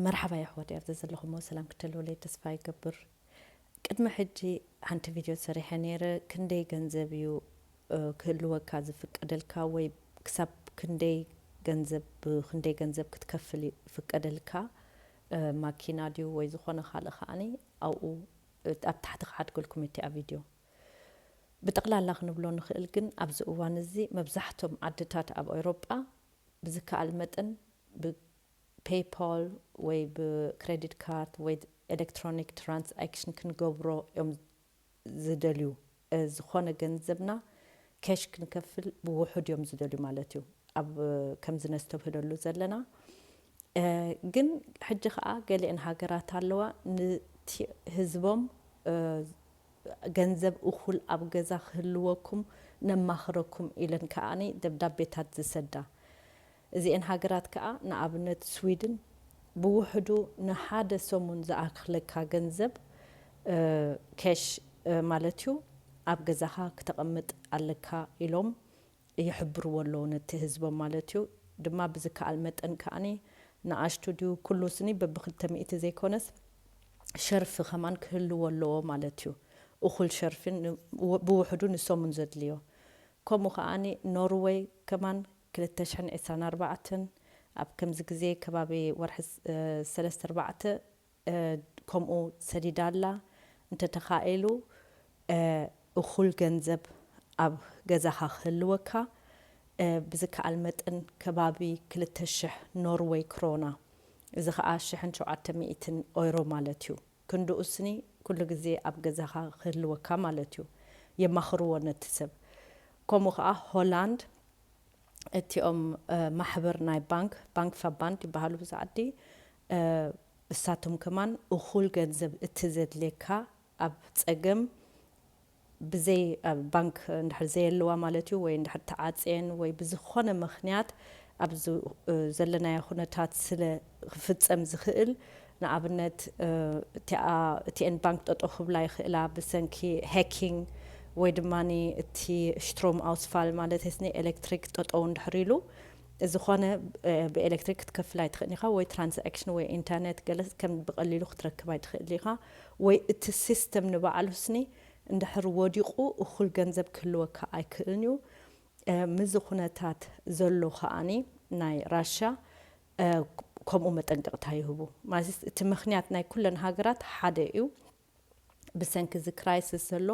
መርሓባ የሕዋተይ ኣብዚ ዘለኹሞ ሰላም ክትህልውለይ ተስፋ ይገብር ቅድሚ ሕጂ ሓንቲ ቪድዮ ሰሪሐ ነይረ ክንደይ ገንዘብ እዩ ክህልወካ ዝፍቀደልካ ወይ ክሳብ ክንደይ ገንዘብ ብክንደይ ገንዘብ ክትከፍል ይፍቀደልካ ማኪና ድዩ ወይ ዝኾነ ካልእ ከዓኒ ኣብኡ ኣብ ታሕቲ ክሓድገልኩም እቲኣ ቪድዮ ብጠቕላላ ክንብሎ ንኽእል ግን ኣብዚ እዋን እዚ መብዛሕቶም ዓድታት ኣብ ኤውሮጳ ብዝከኣል መጠን ብፔይፓል ወይ ብክረዲት ካርድ ወይ ኤለክትሮኒክ ትራንስኣክሽን ክንገብሮ እዮም ዝደልዩ። ዝኾነ ገንዘብና ኬሽ ክንከፍል ብውሑድ እዮም ዝደልዩ ማለት እዩ። ኣብ ከምዚ ነስተብህለሉ ዘለና። ግን ሕጂ ከኣ ገሊኤን ሃገራት ኣለዋ ንቲ ህዝቦም ገንዘብ እኹል ኣብ ገዛ ክህልወኩም ነማኽረኩም ኢለን ከኣ ደብዳቤታት ዝሰዳ እዚኤን ሃገራት ከኣ ንኣብነት ስዊድን ብውሕዱ ንሓደ ሰሙን ዝኣኽለካ ገንዘብ ኬሽ ማለት'ዩ ኣብ ገዛኻ ክተቐምጥ ኣለካ ኢሎም ይሕብርዎ ኣለዉ ነቲ ህዝቦም ማለት እዩ ድማ ብዝከኣል መጠን ከኣ ንኣሽቱ ድዩ ኩሉ ስኒ በብክልተ ሚእቲ ዘይኮነስ ሸርፊ ከማን ክህልዎ ኣለዎ ማለት እዩ እኹል ሸርፊ ብውሕዱ ንሶሙን ዘድልዮ ከምኡ ከኣ ኖርወይ ከማን ክልተ ሽሕን ዕስራን ኣርባዕተን ኣብ ከምዚ ግዜ ከባቢ ወርሒ ሰለስተ ኣርባዕተ ከምኡ ሰዲዳ ኣላ እንተ ተኻኢሉ እኹል ገንዘብ ኣብ ገዛኻ ክህልወካ ብዝከኣል መጠን ከባቢ ክልተ ሽሕ ኖርወይ ክሮና እዚ ከኣ ሽሕን ሸውዓተ ሚእትን ኦይሮ ማለት እዩ ክንድኡ ስኒ ኩሉ ግዜ ኣብ ገዛኻ ክህልወካ ማለት እዩ የማኽርዎ ነቲ ሰብ ከምኡ ከኣ ሆላንድ እቲኦም ማሕብር ናይ ባንክ፣ Bankverband፣ ይበሃሉ ብዛ ዓዲ። እሳቶም ከማን እኹል ገንዘብ እቲ ዘድልየካ ኣብ ጸገም ብዘይ ኣብ ባንክ እንድሕር ዘየለዋ ማለት እዩ ወይ እንድሕር ተዓጽየን ወይ ብዝኾነ ምኽንያት ኣብዚ ዘለናዮ ኩነታት ስለ ክፍጸም ዝኽእል ንኣብነት እቲኣ እቲኤን ባንክ ጠጠው ክብላ ይኽእላ ብሰንኪ ሀኪንግ ወይ ድማ እቲ ሽትሮም ኣውስፋል ማለት ኒ ኤሌክትሪክ ጠጠው እንድሕር ኢሉ እዚ ኾነ ብኤሌክትሪክ ክትከፍል ኣይትኽእልን ኢኻ ወይ ትራንዛክሽን ወይ ኢንተርኔት ገለ ከም ብቐሊሉ ክትረክብ ኣይትኽእል ኢኻ ወይ እቲ ሲስተም ንባዕሉ ስኒ እንድሕር ወዲቑ እኹል ገንዘብ ክህልወካ ኣይክእልን እዩ ምዚ ኩነታት ዘሎ ከኣኒ ናይ ራሻ ከምኡ መጠንቀቕታ ይህቡ። ማለት እቲ ምኽንያት ናይ ኩለን ሃገራት ሓደ እዩ። ብሰንኪ እዚ ክራይስስ ዘሎ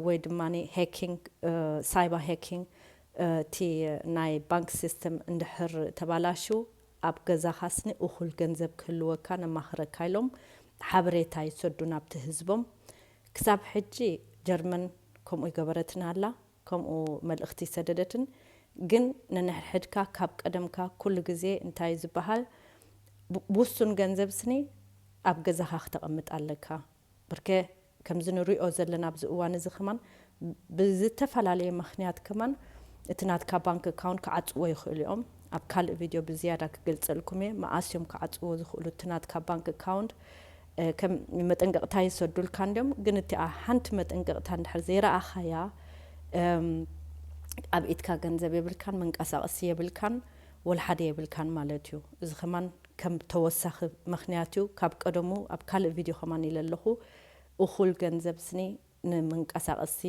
ወይ ድማ ሄኪንግ ሳይባ ሄኪንግ እቲ ናይ ባንክ ሲስተም እንድሕር ተባላሽው ኣብ ገዛኻስኒ እኹል ገንዘብ ክህልወካ ነማኽረካ ኢሎም ሓበሬታ ይሰዱ ናብቲ ህዝቦም። ክሳብ ሕጂ ጀርመን ከምኡ ኣይገበረትን ኣላ። ከምኡ መልእኽቲ ሰደደትን ግን ነንሕድሕድካ ካብ ቀደምካ ኩሉ ግዜ እንታዩ ዝበሃል ብውሱን ገንዘብ ስኒ ኣብ ገዛኻ ክተቐምጥ ኣለካ ብርከ ከምዚ ንሪኦ ዘለና ኣብዚ እዋን እዚ ከማን ብዝተፈላለየ ምኽንያት ከማን እቲ ናትካ ባንክ ኣካውንት ክዓጽዎ ይኽእሉ እዮም ኣብ ካልእ ቪድዮ ብዝያዳ ክገልጸልኩም እየ መኣስ እዮም ክዓጽዎ ዝኽእሉ እቲ ናትካ ባንክ ኣካውንት ከም መጠንቀቕታ ይሰዱልካ እንድዮም ግን እቲኣ ሓንቲ መጠንቀቕታ እንድሕር ዘይረኣኻያ ኣብ ኢድካ ገንዘብ የብልካን መንቀሳቕሲ የብልካን ወልሓደ የብልካን ማለት እዩ እዚ ከማን ከም ተወሳኺ ምኽንያት እዩ ካብ ቀደሙ ኣብ ካልእ ቪድዮ ከማን ኢለ ኣለኹ እኹል ገንዘብ ስኒ ንመንቀሳቀሲ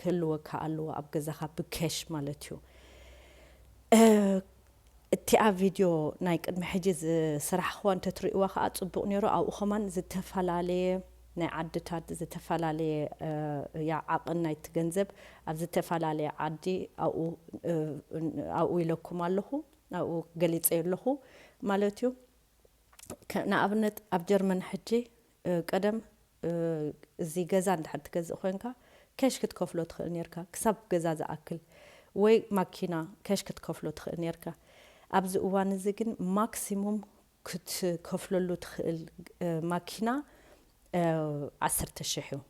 ክህልወካ ኣለዎ ኣብ ገዛኻ ብኬሽ ማለት እዩ እቲኣ ቪድዮ ናይ ቅድሚ ሕጂ ዝስራሕኽዋ እንተትሪእዋ ከኣ ጽቡቅ ኔሩ ኣብኡ ከማን ዝተፈላለየ ናይ ዓድታት ዝተፈላለየ እያ ዓቅን ናይቲ ገንዘብ ኣብ ዝተፈላለየ ዓዲ ኣብኡ ኣብኡ ኢለኩም ኣለኹ ኣብኡ ገሊጸዮ ኣለኹ ማለት እዩ ንኣብነት ኣብ ጀርመን ሕጂ ቀደም እዚ ገዛ እንድሕር ትገዝእ ኮይንካ ኬሽ ክትከፍሎ ትኽእል ኔርካ ክሳብ ገዛ ዝኣክል ወይ ማኪና ኬሽ ክትከፍሎ ትኽእል ኔርካ ኣብዚ እዋን እዚ ግን ማክሲሙም ክትከፍለሉ ትኽእል ማኪና ዓሰርተ ሽሕ እዩ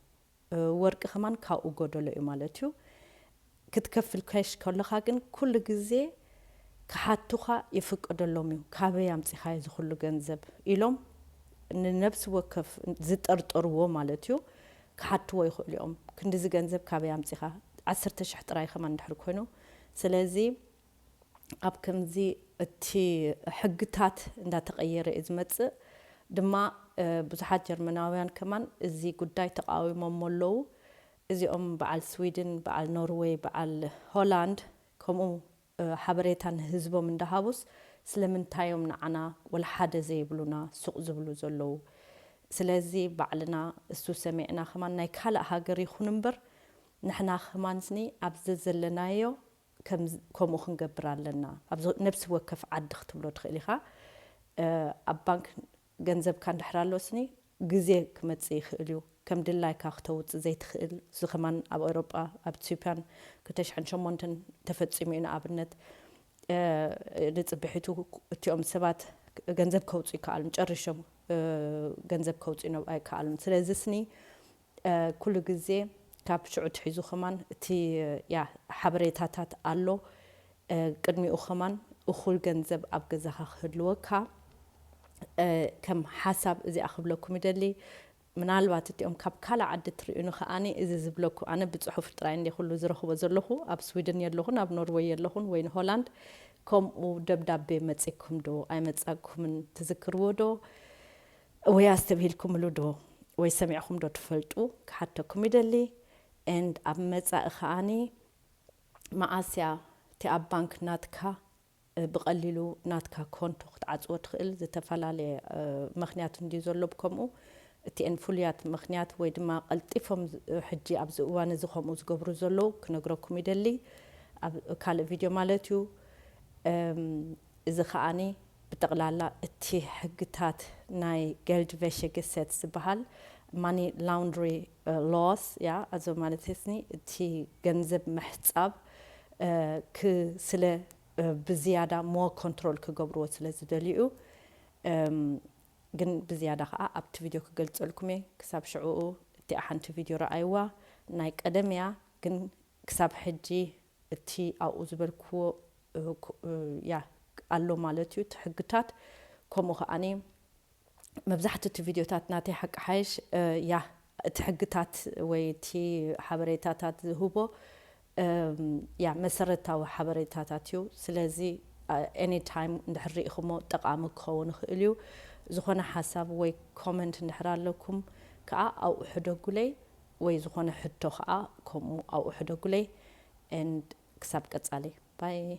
ወርቂ ከማን ካብኡ ጎደሎ እዩ ማለት እዩ ክትከፍል ካሽ ከለካ ግን ኩሉ ግዜ ክሓቱካ ይፍቀደሎም እዩ ካበይ ኣምጺካዮ እዚ ኩሉ ገንዘብ ኢሎም ንነብሲ ወከፍ ዝጠርጠርዎ ማለት እዩ ክሓትዎ ይክእሉ እዮም ክንድዚ ገንዘብ ካበይ ኣምጺካ ዓሰርተ ሽሕ ጥራይ ከማን ድሕሪ ኮይኑ ስለዚ ኣብ ከምዚ እቲ ሕግታት እንዳተቐየረ እዩ ዝመጽእ ድማ ብዙሓት ጀርመናውያን ከማን እዚ ጉዳይ ተቓዊሞሞ ኣለዉ እዚኦም በዓል ስዊድን በዓል ኖርወይ በዓል ሆላንድ ከምኡ ሓበሬታ ንህዝቦም እንዳሃቡስ ስለምንታይ እዮም ንዓና ወላሓደ ዘይብሉና ሱቕ ዝብሉ ዘለዉ ስለዚ ባዕልና እሱ ሰሚዕና ከማን ናይ ካልእ ሃገር ይኹን እምበር ንሕና ከማንስኒ ኣብ ዘዘለናዮ ከምኡ ክንገብር ኣለና ኣብ ነብሲ ወከፍ ዓዲ ክትብሎ ትኽእል ኢኻ ኣብ ባንክ ገንዘብካ እንድሕር ኣሎስኒ ግዜ ክመጽእ ይኽእል እዩ ከም ድላይካ ክተውጽእ ዘይትኽእል እዚ ከማን ኣብ ኤውሮጳ ኣብ ኢትዮጵያን ክልተ ሽሕን ሸሞንተን ተፈጺሙ እዩ ንኣብነት ንጽብሒቱ እቲኦም ሰባት ገንዘብ ከውጽኡ ይከኣሉን ጨሪሾም ገንዘብ ከውጽኡ ኣይከኣሉን ስለዚ ስኒ ኩሉ ግዜ ካብ ሽዑ ኣትሒዙ ከማን እቲ ያ ሓበሬታታት ኣሎ ቅድሚኡ ከማን እኩል ገንዘብ ኣብ ገዛካ ክህልወካ ከም ሓሳብ እዚኣ ክብለኩም ይደሊ ምናልባት እቲኦም ካብ ካልእ ዓዲ እትርእዩኒ ከኣ እዚ ዝብለኩ ኣነ ብጽሑፍ ጥራይ እንዴ ኩሉ ዝረክቦ ዘለኩ ኣብ ስዊድን የለኩን ኣብ ኖርወይ የለኩን ወይ ሆላንድ ከምኡ ደብዳቤ መጺኩም ዶ ኣይመጻኩምን ትዝክርዎ ዶ ወይ ኣስተብሂልኩምሉ ዶ ወይ ሰሚዕኹም ዶ ትፈልጡ ክሓተኩም ይደሊ and ኣብ መጻኢ ከኣ መዓስ እያ እቲ ኣብ ባንክ ናትካ ብቀሊሉ ናትካ ኮንቶ ክትዓጽዎ ትኽእል ዝተፈላለየ መኽንያት እንድዩ ዘሎ ብከምኡ እቲኤን ፍሉያት መኽንያት ወይ ድማ ቀልጢፎም ሕጂ ኣብዚ እዋን እዚ ከምኡ ዝገብሩ ዘለው ክነግረኩም ይደሊ ኣብ ካልእ ቪድዮ ማለት እዩ እዚ ከኣ ብጠቕላላ እቲ ሕግታት ናይ Geldwäschegesetz ዝበሃል ማኒ ላውንድሪ ሎስ እያ፣ ኣዞ ማለት ህስኒ እቲ ገንዘብ ምሕጻብ ክ ስለ ብዝያዳ ሞር ኮንትሮል ክገብርዎ ስለ ዝደልዩ እዩ፣ እም ግን ብዝያዳ ከኣ ኣብቲ ቪድዮ ክገልጸልኩም እየ፣ ክሳብ ሽዕኡ እቲኣ ሓንቲ ቪድዮ ረኣይዋ ናይ ቀደም እያ ግን ክሳብ ሕጂ እቲ ኣብኡ ዝበልክዎ ያ ኣሎ ማለት እዩ እቲ ሕግታት ከምኡ ከኣ መብዛሕትኡ እቲ ቪድዮታት ናተይ ሓቂ ሓይሽ ያ እቲ ሕግታት ወይ እቲ ሓበሬታታት ዝህቦ ያ መሰረታዊ ሓበሬታታት እዩ ስለዚ ኤኒ ታይም እንድሕር ሪኢክሞ ጠቃሚ ክከውን ይክእል እዩ ዝኮነ ሓሳብ ወይ ኮመንት እንድሕር ኣለኩም ከኣ ኣብኡ ሕደጉለይ ወይ ዝኾነ ሕቶ ከኣ ከምኡ ኣብኡ ሕደጉለይ and ክሳብ ቀጻሊ bye።